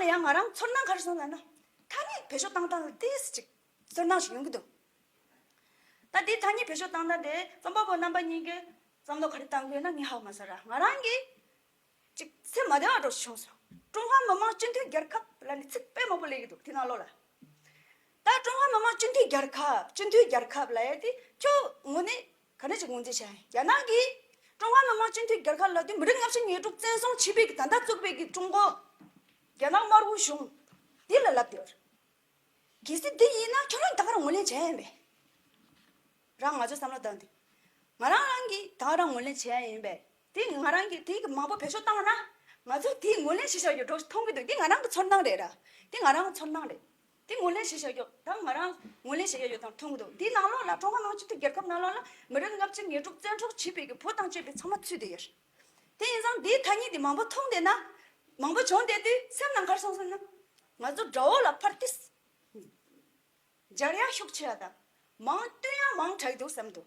ལ་ཡང་ང་རང་ཚོར་སྣང་གར་སོང་ལ་ན་ཐ་སྙད་བེད་སྤྱོད་བཏང་སྟངས་ལ་ཏིས་ཅིག་ཚོར་སྣང་ཞིག་ཡོང་གི་འདུག་ད་དེའི་ཐ་སྙད་བེད་སྤྱོད་བཏང་སྟངས་དེ་རྩོམ་པ་པོ་རྣམ་པ་གཉིས་ཀས་བསམ་བློ་ག་རེ་བཏང་དགོས་ན་ངས་ཧ་མ་ཟ་ར་ང་རང་གིས་ཅིག་སེམས་མ་བདེ་བ་སྒྲོག་ཅིག་བྱུང་སོང། ཀྲུང་ཧྭ་མི་དམངས་སྤྱི་མཐུན་རྒྱལ་ཁབ་ལ་ནི་ཚིག་དཔེ་མང་པོ་ལས་ཀྱི་འདུག་དེ་རྣམས་ཀློག་ལ། ད་ཀྲུང་ཧྭ་མི་དམངས་སྤྱི་མཐུན་རྒྱལ་ཁབ་སྤྱི་མཐུན་རྒྱལ་ཁབ་ལ་ཡ་དེ་ཁྱོད་ངོ་ནས་ག་རེ་ཞིག་ངོས་འཛིན་བྱས་ཡིན་རྒྱ་ནག་གིས་ཀྲུང་ཧྭ་མི་དམངས་སྤྱི་མཐུན་རྒྱལ་ཁབ་ལ་དུས་མི་རིགས་ལྔ་བཅུ་ཉེར་དྲུག་བཙན་བཟུང་བྱས་པའི་ད་ལྟ་བཙུགས་པའི་གི་ཀྲུང་གོ། རྒྱ་ནག་དམར་བོའི་གཞུང་འདི་ལ་ལབ་དེར། གལ་སྲིད་འདི་ཡིན་ན་ཁྱོད་རང་ད་ག་རང་ངོས་ལེན་བྱས་ཡིན་པས། རང་ང་ཚོའི་བསམ་བློ་བཏང་སྟེ། ང་རང་རང་གིས་ད་ག་རང་ངོས་ལེན་བྱས་ཡ་ཡིན་པས་དེ་ཡིན་ང་རང་གིས་དེ་ཡི་གི་མང་པོ་བེད་སྤྱོད་བཏང་བ་ན་ང་ཚོས་དེ་ཡི་ངོས་ལེན་བྱེད་བཞག་ཡོད་འགྲོ་མཐོང་གི་འདུག་དེ་ང་རང་གི་ཚོར་སྣང་རེད་ར་དེ་ང་རང་གི་ཚོར་སྣང་རེད། དེ་ངོས་ལེན་བྱེད་བྱ་ཡོད་དམ་ང་རང་ངོས་ལེན་བྱེད་ཡ་ཡོད་དམ་མཐོང་གི་འདུག་དེའི་ནང་ལོགས་ལ་ཀྲུང་ཧྭ་མི་དམངས་སྤྱི་མཐུན་རྒྱལ་ཁབ་ནང་ལོགས་ལ་མི་རིགས་ལྔ་བཅུ་ཉེར་དྲུག་བཙན་འཕྲོག་བྱས་པའི་གི་བུ་དང་བཅས་པའི་ཚང་མ་ཚུད་དེ་ཡོད་རེད། དེ་ཡིན་ཙང་དེའི་ཐ་སྙད་དེ་མང་པོ་མཐོང་བསྡད་ན། མང་པོ་བྱུང་བསྡད་དུས་སེམས་ནང་ཁར་སོང་ཟིན་ན། ང་ཚོ་དགྲ་བོ་ལ་ཕར་ཏིས། འབྱར་ཡ་ཤུགས་ཆེ་བ་དང། མང་བསྟུན་ཡ་མང་དྲགས་འདུག་བསམ་འདུག།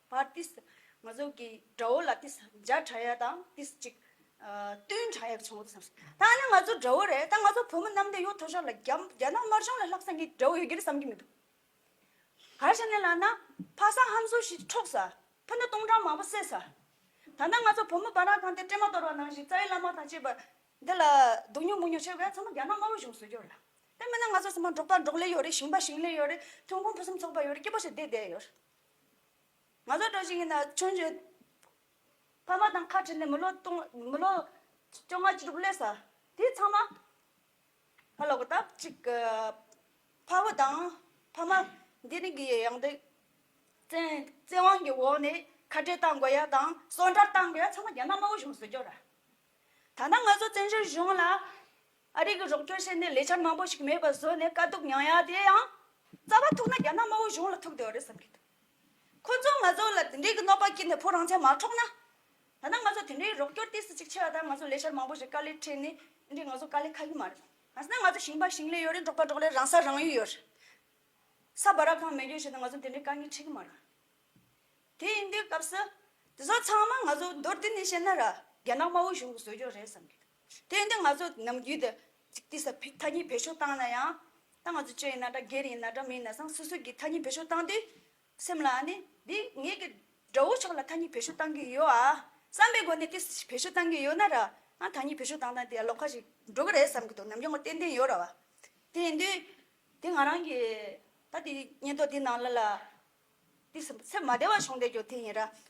བར་ཏིས་ང་ཚོ་གི་དགྲ་བོ་ལ་ཏིས་བརྒྱ་དྲག་ཡག་དང་ཏིས་གཅིག་བསྟུན་དྲག་ཡག་བྱུང་བ་དེ་ད་ནི་ང་ཚོ་དགྲ་བོ་རེད་ད་ང་ཚོ་བོད་མི་ནམ་ཟླ་ཡོད་ཐོ་ཤོར་ལ་རྒྱ་རྒྱ་ནག་དམར་གཞུང་ལ་ལྷག་བསམ་གྱི་དགྲ་བོ་ཡོད་རྒྱུ་རེད་བསམ་གྱི་མི་འདུག་ག་ཞེ་ན་ལགས་ན་ཕ་ས་ཧམ་ཟོ་ཞིག་འཕྲོག་ས་ཕུ་ནུ་སྟོང་ཕྲག་མང་པོ་བསད་ས་ད་ནི་ང་ཚོ་བོད་མི་འབའ་རང་ཁང་དེ་སྤྲེལ་མ་གཏོར་བ་ནང་བཞིན་རྩ་བའི་བླ་མ་དང་བཅས་པ་འདི་ལ་སྡུག་ཉོག་མུག་ཉོག་བྱེད་བས་ཚང་མ་རྒྱ་ནག་དམར་བོ་གཞུང་བཟོས་རྒྱུ་རེད་དེ་མིན་ན་ང་ཚོ་ཚང་མ་འབྲོག་པ་འབྲོག་ལས་ཡོད་རེད་ཞིང་པ་ཞིང་ལས་ཡོད་རེད་ཐོན་ཁུངས་ཕུན་སུམ་ཚོགས་པ་ཡོད་རེད་སྐྱིད་པོ་ཞིག་བསྡད་བསྡད་ཡོད་རེད། ང་ཚོ་གྲོ་ཞིང་གི་ན་ཆུང་ཆུང། ཕ་མ་དང་ཁ་བྲལ་ནས་མི་ལོ་སྟོང་མི་ལོ། བཅོ་ལྔ་བཅུ་དྲུག་སླེབས་ས་དེ་ཚང་མ། ཕ་ལོག་ད་ཅིག་གི། ཕ་བུ་དང་ཕ་མ་འདི་རིང་གི་ཡང་དེ། བཙན་བཙན་དབང་གི་འོག་ནས་ཁ་བྲལ་གཏང་དགོས་ཡ་དང་སོ་འདྲར་གཏང་དགོས་ཡ་ཚང་མ་རྒྱ་ནག་དམར་བོ་གཞུང་བཟོས་རྒྱུ་ར། ད་ནང་ང་ཚོ་བཙན་བྱོལ་གཞུང་ལ། ཨ་རིག་གི་རོགས་སྐྱོར་བྱས་ནས་ལས་འཆར་མང་པོ་ཞིག་མེད་པ་བཟོས་ནས་དཀའ་སྡུག་མྱངས་ཡ་དེ་ཡང་རྩ་བ་ཐུག་ན་རྒྱ་ནག་དམར་བོ་གཞུང་ལ་ཐུག་བསྡད་རེད་བསམ་གྱི་འདུག་ཁོ་ཚོ་ང་ཚོ་ལ་དེ་འདྲའི་གི་གནོད་པ་བསྐྱིལ་ནས་བུ་རང་ཅག་མ་འཕྲོག་ན། ད་ནང་ང་ཚོ་དེ་འདྲའི་རོགས་སྐྱོར་ལྟས་སུ་ཅིག་ཆེ་བ་དང་ང་ཚོ་ལས་འཆར་མང་པོ་ཞིག་དཀའ་ལས་འཕྲད་ནས་དེ་འདྲའི་ང་ཚོ་དཀའ་ལས་ཁག་གི་མ་རེད་གང་ཟེར་ན་ང་ཚོ་ཞིང་པ་ཞིང་ལས་ཡོད་རེད་འབྲོག་པ་འབྲོག་ལས་རང་ས་རང་ཡུལ་ཡོད་རེད་ས་བ་ར་གང་མེད་ཡོད་བྱས་ནས་ང་ཚོ་དེ་འདྲའི་དཀའ་ངལ་འཕྲད་གི་མ་རེད། དེ་ཡིན་དུས་སྐབས་སུ་དེ་ཚོ་ཚང་མ་ང་ཚོ་མདོར་བསྡུས་ནས་བཤད་ན་ར་རྒྱ་ནག་དམར་བོ་གཞུང་གི་བཟོས་རྒྱུ་རེད་བསམ་གྱི་འདུག། དེ་འདི་ང་ཚོ་ནམ་རྒྱུན་དུ་གཅིག་དུས་སུ་ཐ་སྙད་བེད་སྤྱོད་བཏང་ན་ཡང། ད་ང་ཚོ་ཅི་ཡིན་ན་འདྲ་སྒེར་ཡིན་ན་འདྲ་མི་ཡིན་ན་སང་སོ་སོས་ཀྱི་ཐ་སྙད་བེད་སྤྱོད་བཏང་དུས། སེམས་ལ་ནི་འདི་ངེད་ཀྱི་དགྲ་བོ་ཕྱོགས་ལ་ཐ་སྙད་བེད་སྤྱོད་བཏང་གི་ཡོད་ཨ། བསམ་པའི་སྒོ་ནས་དུས་སུ་བེད་སྤྱོད་བཏང་གི་ཡོད་ན་ར། ཨང་ཐ་སྙད་བེད་སྤྱོད་བཏང་བཏང་དེ་ཡང་ལོག་ཁ་ཞིག་འགྲོ་གི་རེད་བསམ་གྱི་འདུག་ནམ་རྒྱུན་ང་ཏན་ཏན་ཡོད་ར་བ། དེ་ཡིན་དུས། དེ་ང་རང་གིས་ད་དེ་སྙད་ཐོག་དེ་ནང་ལ་ལ། དུས་སུ་སེམས་མ་བདེ་བ་བྱུང་བསྡད་ཀྱང་དེ་ཡིན་ར།